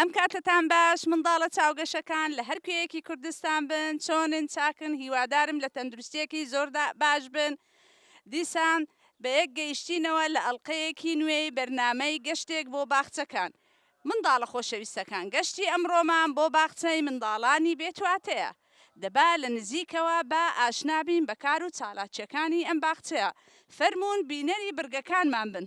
ئەم کاتەتان باش منداڵە چاوگەشەکان لە هەر کوێیەکی کوردستان بن چۆنن چاکن هیوادارم لە تەندروستیەکی زۆردا باش بن دیسان بە یەک گەیشتینەوە لە ئەڵلقەیەکی نوێی بەرنمەی گەشتێک بۆ باخچەکان منداڵە خۆشەویستەکان گەشتی ئەمڕۆمان بۆ باخچەی منداڵانی بێتواتەیە، دەبا لە نزیکەوە با ئاشنا بین بە کار و چالاکییەکانی ئەم باخچەیە، فەرموون بینەری بڕگەکانمان بن.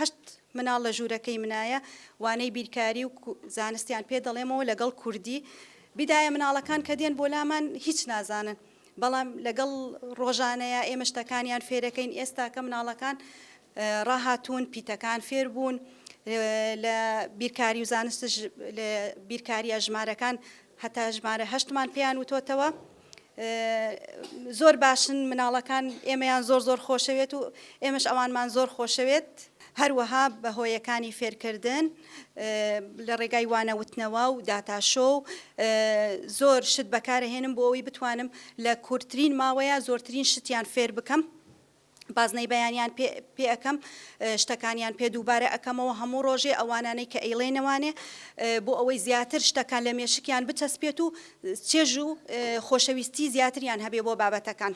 هەشت مناڵ لە ژوورەکەی منایە وانەی بیرکاری و زانستیان پێ دەڵێمەوە لەگەڵ کوردی بیدایە مناڵەکان کە دێن بۆ لامان هیچ نازانن بەڵام لەگەڵ ڕۆژانەیە ئێمە شتەکانیان فێرەکەین ئێستاکە مناڵەکان ڕاهاتوون پیتەکان فێر بوون لە بیرکاری و زانستش لە بیرکاریە ژمارەکان هەتا ژمارە هەشتمان پێیان وتۆتەوە زۆر باشن مناڵەکان ئێمەیان زۆر زۆر خۆشەوێت و ئێمەش ئەوانمان زۆر خۆشەوێت هەروەها بە هۆیەکانی فێرکردن لە ڕێگای وانەوتنەوە و داتاشۆ و زۆر شت بەکارهێنم بۆ ئەوی بتوانم لە کورتترین ماوەیە زۆرترین شتیان فێر بکەم بازنەی بەیانیان پێ پێ ئەکەم شتەکانیان پێ دووبارە ئەکەمەوە هەموو ڕۆژێ ئەوانانەی کە ئەیڵێنەوانێ بۆ ئەوەی زیاتر شتەکان لە مێشکیان بچەسپێت و چێژ و خۆشەویستی زیاتریان هەبێ بۆ بابەتەکان.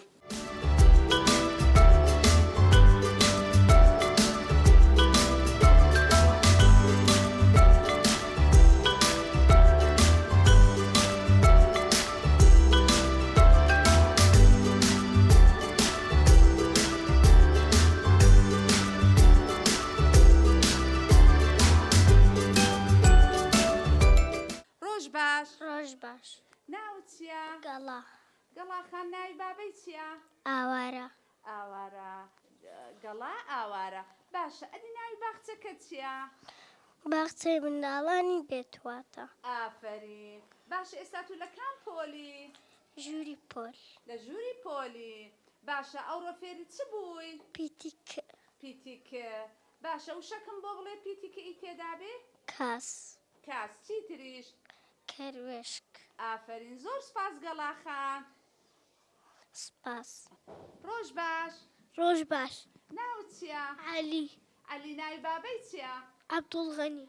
ڕۆژ باش ڕۆژ باش ناو چیە گەڵا گەڵاخان ناوی بابەی چیە ئاوارە ئاوارە گەڵا ئاوارە باشە ئەدی ناوی باخچەکە چیە باخچەی منداڵانی بێتواتە ئافرین باش ئێستا تو لە کام پۆلی ژووری پۆل. لە ژووری پۆلی. باشە ئەوڕۆ فێری چ بووی؟ پیتی ک. پیتی ک. باشە وشەکم بۆ بڵێ پیتی ک ی تێدابێ؟ کاس. کاس چی تریش؟ کەروێشک. ئافەرین زۆر سپاس گەڵا خان. سپاس. ڕۆژ باش. ڕۆژ باش. ناوت چیە؟ عەلی. عەلی ناوی بابەی چیە؟ عەبدوڵغەنی.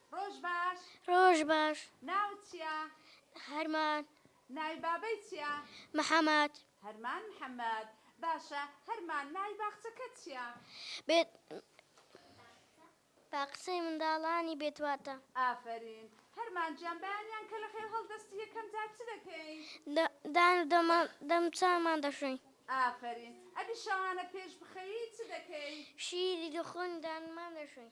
ڕۆژ باش. ڕۆژ باش. ناوت چیە؟ هەرمان. ناوی بابەی چیە؟ محمد. هەرمان محمد. باشە هەرمان ناوی باخچەکەت چیە؟ بێت باخچەی منداڵانی بێت واتە. ئافەرین هەرمان گیان بەیانیان کە لە خێو هەڵدەستی یەکەم جار چ دەکەین؟ دان و دەمان دەم چاومان دەشۆین. ئافەرین ئەدی شەوانە پێش بخەوی چ دەکەی؟ شیری دخۆین و دانمان دەشۆین.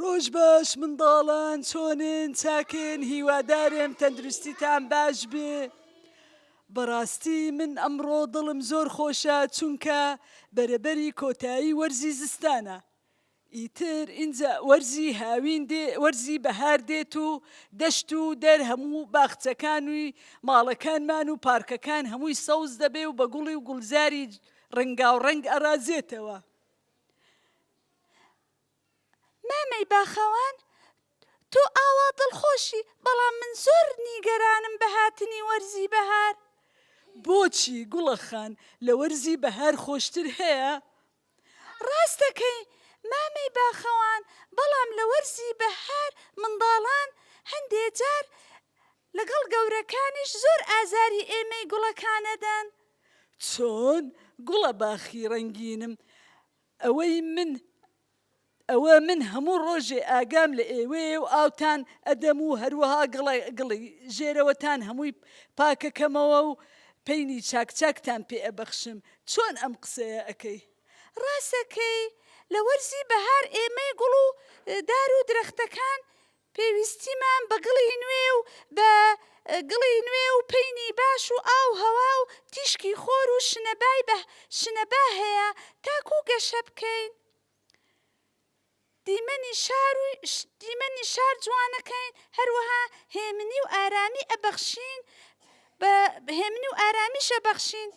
ڕۆژ باش منداڵان چۆنن چاکن هیوادارم تەندروستیتان باش بێ بەڕاستی من ئەمڕۆ دڵم زۆر خۆشە چونکە بەرەبەری کۆتایی وەرزی زستانە ئیتر ئینجا وەرزی هاوین دێ، وەرزی بەهار دێت و دەشت و دەر هەموو باخچەکان و ماڵەکانمان و پارکەکان هەمووی سەوز دەبێ و بە گوڵی و گوڵزاری ڕەنگاوڕەنگ ئەڕازێتەوە. مامەی باخەوان، تۆ ئاوا دڵخۆشی، بەڵام من زۆر نیگەرانم بە هاتنی وەرزی بەهار. بۆچی گوڵەخان، لە وەرزی بەهار خۆشتر هەیە؟ ڕاستەکەی مامەی باخەوان بەڵام لە وەرزی بەهار منداڵان هەندێ جار لەگەڵ گەورەکانیش زۆر ئازاری ئێمەی گوڵەکانەدەن. چۆن گوڵە باخی ڕەنگینم ئەوەی من ئەوە من هەموو ڕۆژێ ئاگام لە ئێوەیە و ئاوتان ئەدەم و هەروەها گڵی ژێرەوەتان هەمووی پاکەکەمەوە و پەینی چاک چاکتان پێ ئەبەخشم، چۆن ئەم قسەیە ئەکەی؟ ڕاستەکەی، لە وەرزی بەهار ئێمەی گوڵ و دار و درەختەکان پێویستیمان بە گڵی نوێ و بە گڵی نوێ و پەینی باش و ئاو هەوا و تیشکی خۆر و شنەبای شنەبا هەیە تاکوو گەشە بکەین. دیمەنی شار و دیمەنی شار جوانەکەین هەروەها هێمنی و ئارامی ئەبەخشین بە هێمنی و ئارامیش ئەبەخشین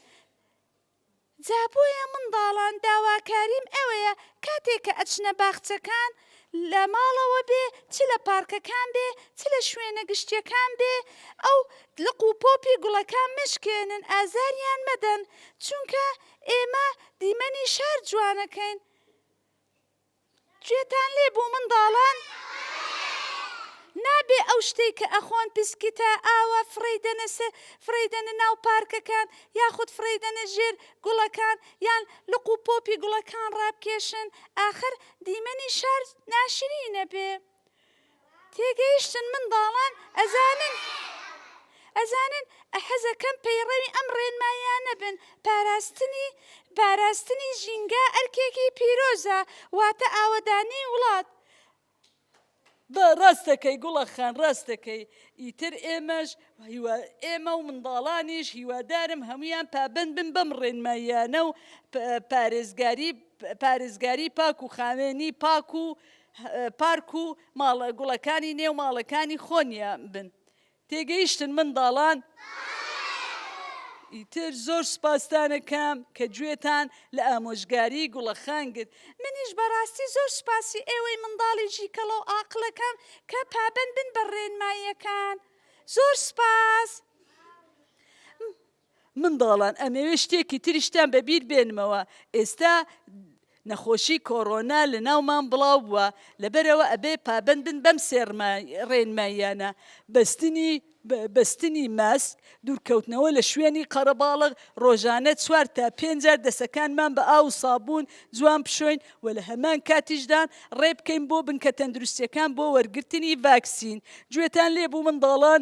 جا بۆیە منداڵان داواکاریم ئەوەیە کاتێک کە ئەچنە باخچەکان لە ماڵەوە بێ چ لە پارکەکان بێ چ لە شوێنە گشتیەکان بێ ئەو لق و پۆپی گوڵەکان مەشکێنن ئازاریان مەدەن چونکە ئێمە دیمەنی شار جوانەکەین گوێتان لێ بوو منداڵان نابێ ئەو شتێک کە ئەخۆن پسکیتە ئاوا فڕی دەنەسە فڕی دەنە ناو پارکەکان یاخود فڕی دەنە ژێر گوڵەکان یان لق و پۆپی گوڵەکان ڕابکێشن ئاخر دیمەنی شار ناشرینە بێ. تێگەیشتن منداڵان ئەزانن ئەزانن حەزەکەم پەیڕەوی ئەم ڕێنماییانە بن پاراستنی پاراستنی ژینگا ئەرکێکی پیرۆزە واتە ئاوەدانی وڵات بە ڕاست دەکەی گوڵە خان ڕاست دەکەی ئیتر ئێمەش هیوا ئێمە و منداڵانیش هیوادارم هەمویان پابند بن بەم ڕێنماییانە و پارێزگاری پارێزگاری پاک و خاوێنی پاک و پارک و ماڵە گوڵەکانی نێو ماڵەکانی خۆنیان بن تێگەیشتن منداڵان؟ ئیتر زۆر سوپاستانەکەم کە گوێتان لە ئامۆژگاری گوڵەخان گرت منیش بەڕاستی زۆر سوپاسی ئێوەی منداڵی ژیکەڵە و ئاقڵەکەم کە پابەند بن بە ڕێنماییەکان زۆر سوپاس. منداڵان ئەمەوێ شتێکی تریشتان بە بیر بێنمەوە ئێستا نەخۆشی کۆڕۆنا لە ناومان بڵاو بووە لەبەرەوە ئەبێ پابەند بن بەم سێ ڕێنماییانە بەستنی بەستنی ماسک دوورکەوتنەوە لە شوێنی قەرەباڵغ ڕۆژانە چوار تا پێنج جار دەسەکانمان بە ئاو و سابوون جوان بشۆین و لە هەمان کاتیشدان ڕێ بکەین بۆ بنکە تەندروستیەکان بۆ وەرگرتنی ڤاکسین گوێتان لێبوو منداڵان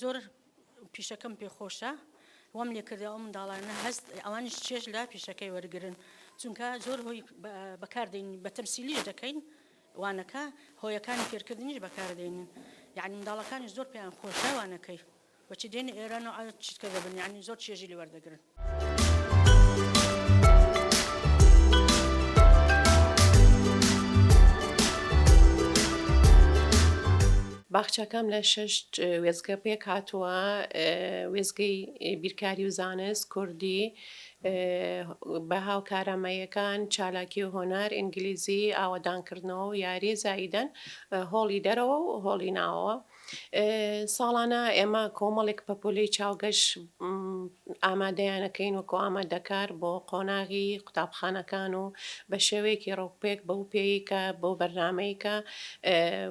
زۆر پیشەکەم پێ خۆشە وەم لێکردە ئەو منداڵانە هەست ئەوانیش چێژ لە پیشەکەی وەرگن چونکە زۆر هۆی بەکاردین بە تەمسیلیش دەکەین وانەکە هۆیەکانی فێرکردنیش بەکاردێنین یعنی منداڵەکانی زۆر پێیان خۆشەوانەکەی بەچی دێن ئێران و چیتکە دەبن یعنی زۆر چێژی لێوەردەگرن باخچەکەم لە شەش وێزگە پێک هاتووە وێزگەی بیرکاری و زانست کوردی بە هاوکارامەیەکان چالاکی و هۆنار ئینگلیزی ئاوادانکردنەوە و یاری زاییدەن هۆڵی دەرەوە و هۆڵی ناوەوە ساڵانە ئێمە کۆمەڵێک پەپۆلەی چاوگەش ئامادەیانەکەین وەکۆ ئامادەکار بۆ قۆناغی قوتابخانەکان و بە شێوەیەکی ڕووپێک بەو پێی کە بۆ بەرنمەیە کە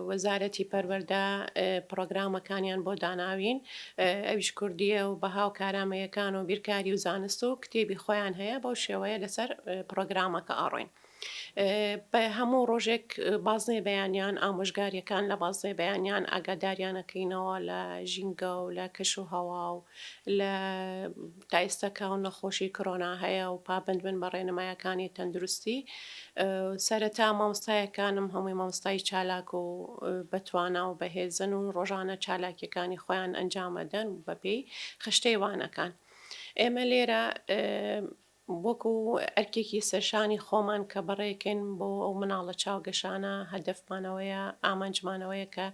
وەزارەتی پەروەەردە پرۆگرامەکانیان بۆ داناوین ئەویش کوردیە و بەها و کارامەیەکان و بیرکاری و زانست و کتێبی خۆیان هەیە بەو شێوەیە لەسەر پرۆگرامەکە ئاڕۆین. بە هەموو ڕۆژێک بازنەی بەیانیان ئامۆژگاریەکان لە بازنەی بەیانیان ئاگاداریانەکەینەوە لە ژینگە و لە کەش و هەوا و لە تایستەکە و نەخۆشی کرۆنا هەیە و پابند بن بە ڕێنمایەکانی تەندروستی سەرەتا مامۆستایەکانم هەمووی مامۆستای چالاک و بەتوانا و بەهێزن و ڕۆژانە چالاکیەکانی خۆیان ئەنجامەدەن بەپێی خشتەی وانەکان ئێمە لێرە وەکو ئەرکێکی سەرشانی خۆمان کە بەڕێکەین بۆ ئەو مناڵە چاوگەشانە، هەدەفمان ئەوەیە، ئامانجمان ئەوەیە کە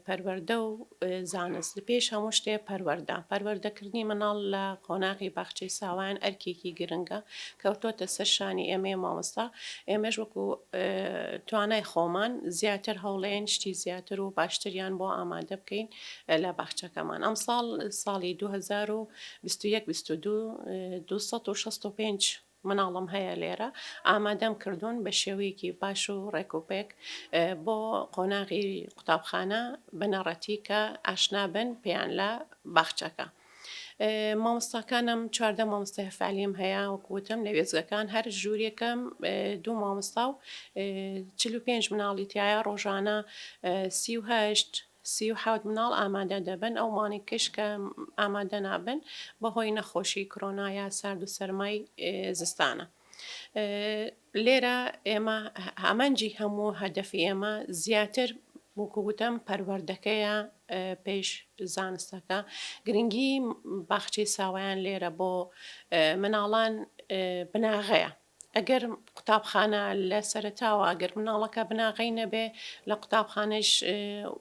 پەروەردە و زانست، پێش هەموو شتێ پەروەردە، پەروەردەکردنی مناڵ لە قۆناغی باخچەی ساوایان ئەرکێکی گرنگە، کەوتۆتە سەر شانی ئێمەی مامۆستا، ئێمەش وەکو توانای خۆمان زیاتر هەوڵێین شتی زیاتر و باشتریان بۆ ئامادە بکەین. لە باخچەکەمان ئەمساڵ ساڵی دوو هەزار و بیست و یەک بیست و دوو دوو سەد و شەست و پێنج مناڵم هەیە لێرە ئامادەم کردوون بە شێوەیەکی باش و ڕێکوپێک بۆ قۆناغی قوتابخانە بنەڕەتی کە ئاشنابن پێیان لە باخچەکە. مامۆستاکانم چواردە مامۆستای فعلیم هەیە وەکوتم لە وێزگەکان هەر ژوورێکم دوو مامۆستا و چ پێنج مناڵی تایە ڕۆژانە سیهشت سی و حەوت مناڵ ئامادە دەبن، ئەو مانیکەش کە ئامادە نابن بە هۆی نەخۆشی کرۆنا یا سارد و سەرمای زستانە. لێرە ئێمە ئامانجی هەموو هەدەفی ئێمە زیاتر وەکو گوتم پەروەردەکەیە پێش زانستەکە گرنگی باخچەی ساوایان لێرە بۆ مناڵان بناغەیە. ئەگەر قوتابخانە لە سەرەتاوە ئەگەر مناڵەکە بناغەی نەبێ لە قوتابخانەش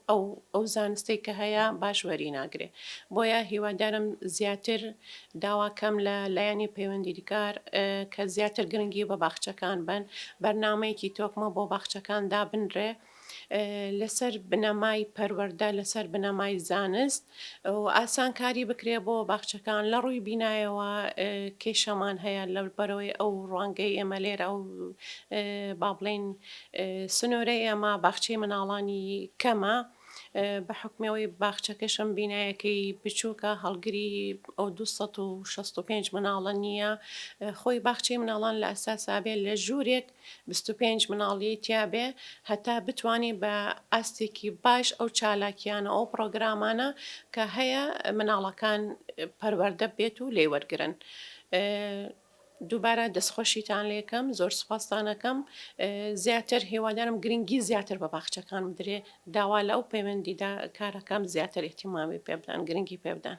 ئەو ئەو زانستەی کە هەیە باش وەری ناگرێ بۆیە هیوادارم زیاتر داواکەم لە لایەنی پەیوەندیدکار کە زیاتر گرنگی بە باخچەکان بن بەرنمەیەکی تۆکمە بۆ باخچەکان دابنرێ لەسەر بنەمای پەروەردە لەسەر بنەمای زانست و ئاسان کاری بکرێ بۆ باخچەکان لە ڕووی بینایەوە کێشەمان هەیە لە بەرەوەی ئەو ڕوانگەی ئێمە لێرە ئەو با بڵین سنوورەی ئێمە باخچەی مناڵانی کەمە بە حکمەوەی باخچەکەشم بینایەکەی بچووکە هەڵگری ئەو 1965 مناڵە نییە خۆی باخچەی مناڵان لە ئەساسابێت لە ژوورێک بیست و پێنج مناڵی تیا بێ هەتا بتوانی بە ئاستێکی باش ئەو چالاکیانە ئەو پرۆگرامانە کە هەیە مناڵەکان پەروەەردە بێت و لێ وەرگن. دووبارە دەستخۆشیتان لەکەم زۆر سپاستانەکەم زیاتر هێوادارم گرنگی زیاتر بە باخچەکان بدرێ داوا لە ئەو پەیوەندیدا کارەکەم زیاتر احتیمامی پێبدان گرنگی پێبدان.